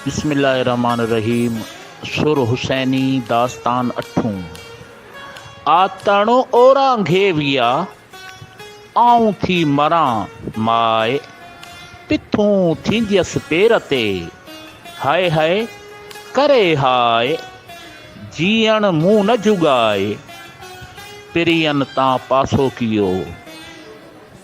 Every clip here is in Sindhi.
بسم الله الرحمٰن الرحيم سر حسيني داستان اٺون آ تڻ اورانگھي ويا آئون ٿي مران ماء پٿون ٿينديس پير تي هاء هاء ڪري هاء جيئڻ مون نه جوڳائي پرين تان پاسو ڪيو.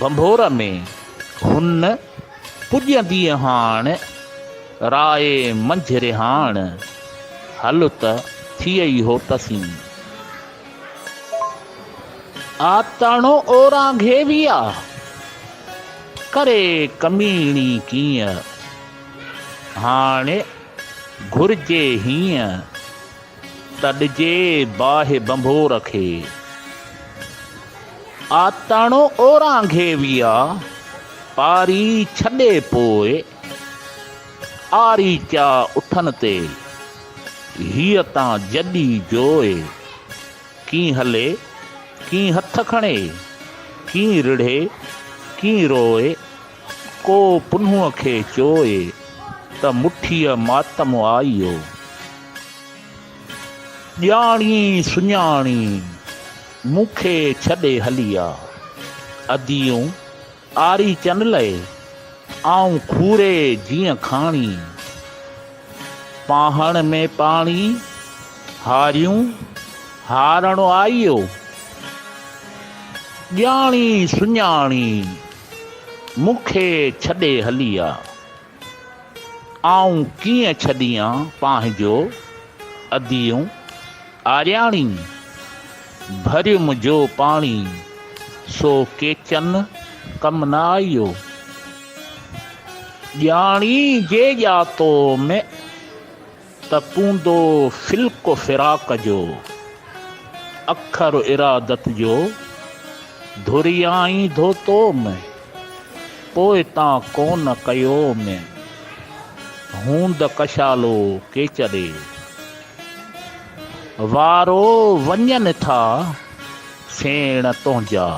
ڀنڀور ۾ هن پڄنديء هاڻ، راء منجهه رهاڻ، هل ته ٿيئي هو تسين. آ تڻو اوران گهيويا، ڪري ڪميڻي ڪيئن، هاڻي گهرجي هيئن. ته ڏجي باهه ڀنڀور کي، آتڻ اورانگهي ويا پاري ڇڏي پوء، آري چا اٺن تي هيء تان جڏي جوء، ڪين هلي ڪين هٿ کڻي، ڪين رڙهي ڪين روء، ڪو پنهونء کي چوئي ته مٺيء ماتم آيو. ڄاڻي سڃاڻي مون کي ڇڏي هلي آ. اديون آري چن لئي آئون کوري جيئن کاڻي. پانهڻ ۾ پاڻي هاريون هارڻ آيو. ڄاڻي سڃاڻي مون کي ڇڏي هلي آ. آئون ڪيئن ڇڏيان پنهنجو اديون آرياڻي. ڀريم جو پاڻي سو ڪيچن ڪم نه آيو. ڄاڻي جي ڄاتو ۾. ته پوندو فلڪ فراق جو، اکر ارادت جو ڌريائين ڌوتو ۾، پوء تان ڪون ڪيو ۾، هوند ڪشالو ڪيچري وارو، وڃن ٿا سيڻ تنهنجا.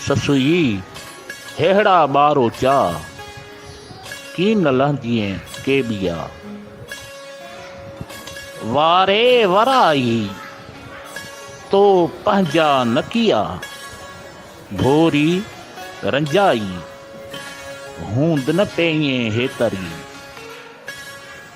سسئي! ههڙا ٻار اوچا، ڪين نه لهندينء ڪي ٻيا. واري ورائي تو پنهنجا نه ڪيا، ڀوري رنجائي هوند نه پيئين هيتري.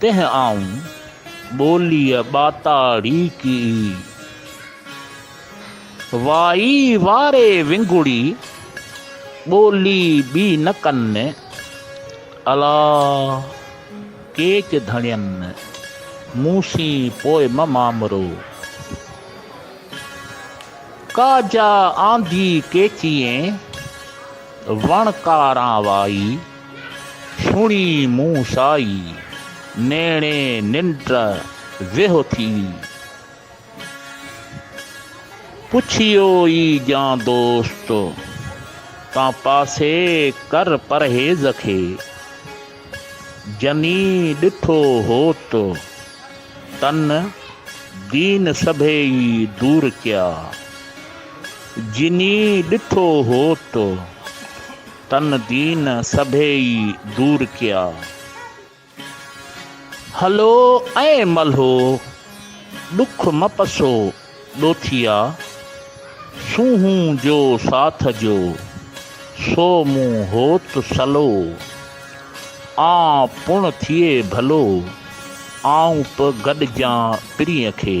تنهن آئون ٻوليء ٻاتاڙي ڪئي. وائي واري ونگڙي ٻولي ٻي نه ڪن. الا ڪيچ ڌڻين مون سين پوء م مامرو. ڪا جا آندي ڪيچيئين وڻ ڪاران وائي. سڻي مون سائي نيڻي ننڊ ويهو ٿي. پڇيو ئي جان دوست تان پاسي ڪر پرهيز کي. جني ڏٺو هوت تن دين سڀيئي دور ڪيا. جني ڏٺو هوت. تن دين سڀيئي دور ڪيا. هلو ائين ملهو ڏک مپسو ڏوٿيا. سونهون جو ساٿ جو سو مون هوت سلو. آن پڻ ٿئي ڀلو آئون پ گڏجان پرينء کي.